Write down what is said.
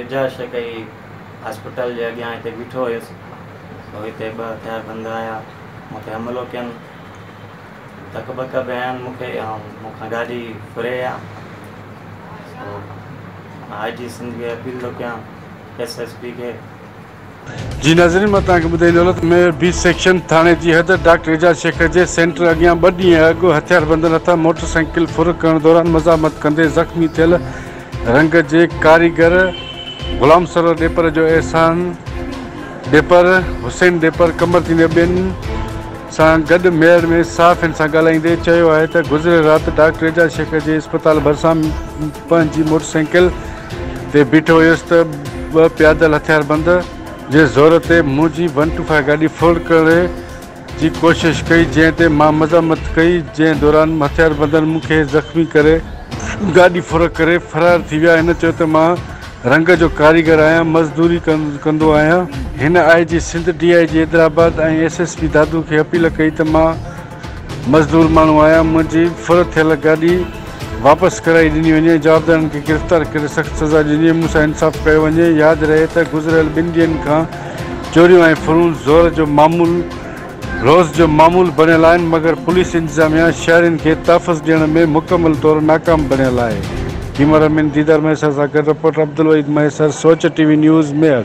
اعجاز شڪيعي هاسپيٽل جي اڳيان هتي بيٺو هيس سو هتي ٻه هٿياربند آيا مون تي حملو ڪين ڌڪ ٻڪ به هنيائين مون کي ۽ مون کان گاڏي ڦري ويا سو آء جي سنڌ کي اپيل ٿو ڪيان ايس ايس پي کي. جي ناظرين مان توهان کي ٻڌائي ڏينو ته ميئر بي سيڪشن ٿاڻي جي حد ڊاڪٽر اعجاز شيخ جي سينٽر اڳيان ٻه ڏينهن اڳ هٿياربندن هٿان موٽر سائيڪل ڦر ڪرڻ دوران مزاحمت ڪندي زخمي ٿيل رنگ جي ڪاريگر غلام سرور ڏيپر جو احسان ڏيپر، حسين ڏيپر، قمر تين ۽ ٻين سان گڏ ميئڙ ۾ صحافين سان ڳالهائيندي چيو آهي ته گذريل رات ڊاڪٽر اعجاز شيخ جي اسپتال ڀرسان پنهنجي موٽر سائيڪل تي بيٺو هيس ته ٻه پيادل هٿياربند جي زور تي منهنجي ون ٽو فائيو گاڏي ڦول ڪرڻ جي ڪوشش ڪئي جنهن تي مان مذمت ڪئي جنهن دوران هٿياربندن مون کي زخمي ڪري گاڏي ڦرڪ ڪري فرار ٿي ويا هن چيو ته مان رنگ جو ڪاريگر آهيان مزدوري ڪندو آهيان. هن I G Sindh D I G Hyderabad ۽ S S P Dadu کي اپيل ڪئي ته مان مزدور ماڻهو آيا، منهنجي ڦر ٿيل گاڏي واپس ڪرائي ڏني وڃي، جوابدارن کي گرفتار ڪري سخت سزا ڏني، مون سان انصاف ڪيو وڃي، ياد رهي ته گذريل ٻن ڏينهن کان چوريون ۽ ڦرون زور جو معمول روز جو معمول بڻيل آهن، مگر پوليس انتظاميا شهرين کي تحفظ ڏيڻ ۾ مڪمل طور ناڪام بڻيل آهي. ڪيمرا مين ديدار مهيسر سان گڏ reporter Abdulwaheed Mahesar, Soch T V news, Mehar.